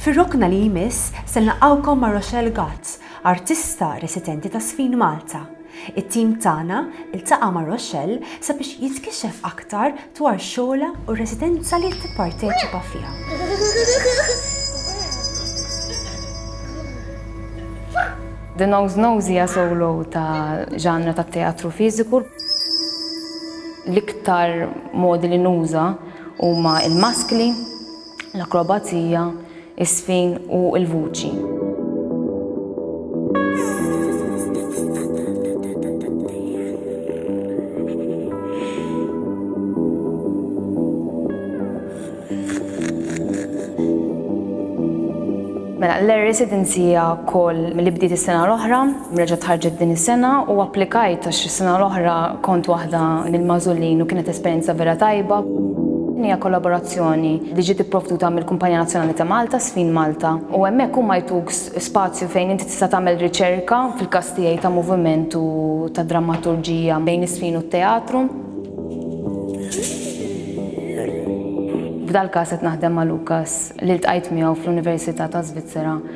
Fir-rokna li jmiss se nlaqgħukom ma' Rochelle Gotz, artista residenti ta' Sfin Malta. It-tim tagħna ltaqa' ma' Rochelle sabiex jitkixef aktar dwar xogħolha u r-residenza li tipparteċipa fiha. The Nose Nose hija solo ta' ġanra tat-teatru fiżiku. L-iktar modi li nuża huma l-maskli. l-akrobazija, iż-żfin u l-vuċi. Mela, l-Air Residency hija wkoll li bdiet is-sena l-oħra. Reġgħet ħarġet din is-sena u applikajt għax is-sena l-oħra kont waħda mill-magħżulin u kienet esperjenza vera tajba. Din hija kollaborazzjoni li ġiet ipprovduta mill-Kumpanija Nazzjonali ta' Malta, Sfin Malta, u hemmhekk huma jtuk spazju fejn inti tista' tagħmel riċerka, fil-każ tiegħi ta' moviment u ta' drammaturġija bejn is-sfin u t-teatru. F'dal-każ qed naħdem ma' Lukas li ltqajt miegħu fl-Università taż-Żvizzera.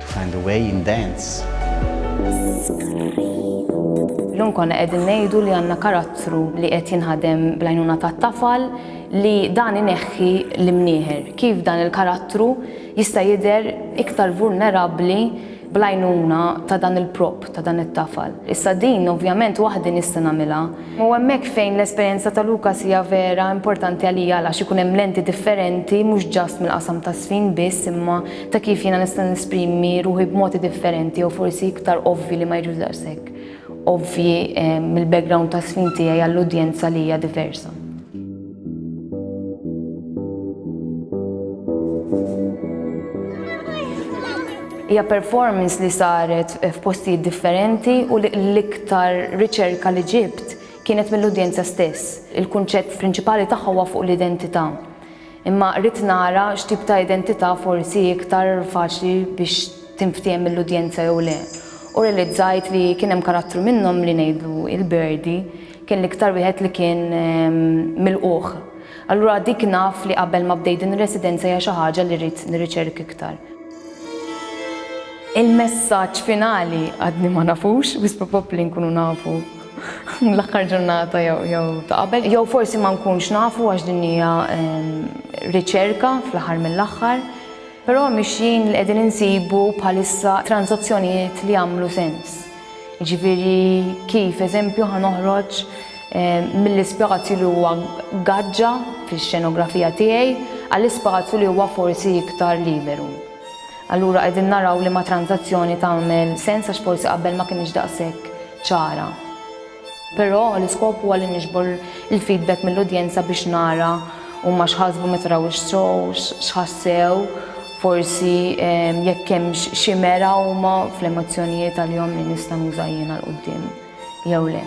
To find a way in dance. Illum konna qegħdin ngħidu li għandna karattru li qed jinħadem bl-għajnuna tat-tafal li dan ineħħi l-imnieħer. Kif dan il-karattru jista' jidher iktar vulnerabbli bl-għajnuna ta' dan il-prop, ta' dan it-tafal. Issa din ovvjament waħdi nista' nagħmilha. U hemmhekk fejn l-esperjenza ta' Lukas hija vera importanti għalija għalax ikun hemm lenti differenti mhux ġast mill-qasam ta' żfin biss imma ta' kif jiena nista' nesprimi ruħi b'modi differenti jew forsi iktar ovvi li ma jiġux daqshekk ovvi eh, mill-background ta' sfin tiegħi għall-udjenza li hija diversa. Hija performance li saret f'postijiet differenti u l-iktar riċerka li ġibt kienet mill-udjenza stess. Il-kunċett prinċipali tagħha huwa fuq l-identità. Imma ridt nara x'tip ta' identità forsi hi iktar faċli biex tinftiehem mill-udjenza jew le, u rrealizzajt li kien hemm karattru minnhom li ngħidlu il-Berdi kien l-iktar wieħed li kien milqugħ. Allura dik naf li qabel ma bdejt din ir-residenza hija xi ħaġa li rrid nirriċerk iktar. Il-messaġġ finali għadni ma nafux, wisq probabbli nkunu nafu. l-aħħar ġurnata jew ta' qabel, jew forsi ma nkunx nafu għax din hija ehm, riċerka fl-aħħar mill-aħħar, però mixjin li qegħdin insibu bħalissa transazzjonijiet li jagħmlu sens. Ġifieri kif eżempju ħanoħroġ Eh, mill-ispazju li huwa gaġġa fix-xenografija tiegħi għall-ispazju li huwa forsi iktar liberu. Allura qegħdin naraw liema tranżazzjoni tagħmel sens għax forsi qabel ma kinitx daqshekk ċara. Però l-iskop huwa li niġbor il-feedback mill-udjenza biex nara huma x'ħasbu meta raw ix-show, x'ħassew, forsi ehm, jekk hemmx xi mera huma fl-emozzjonijiet għalihom li nista' nuża jiena l quddiem jew le.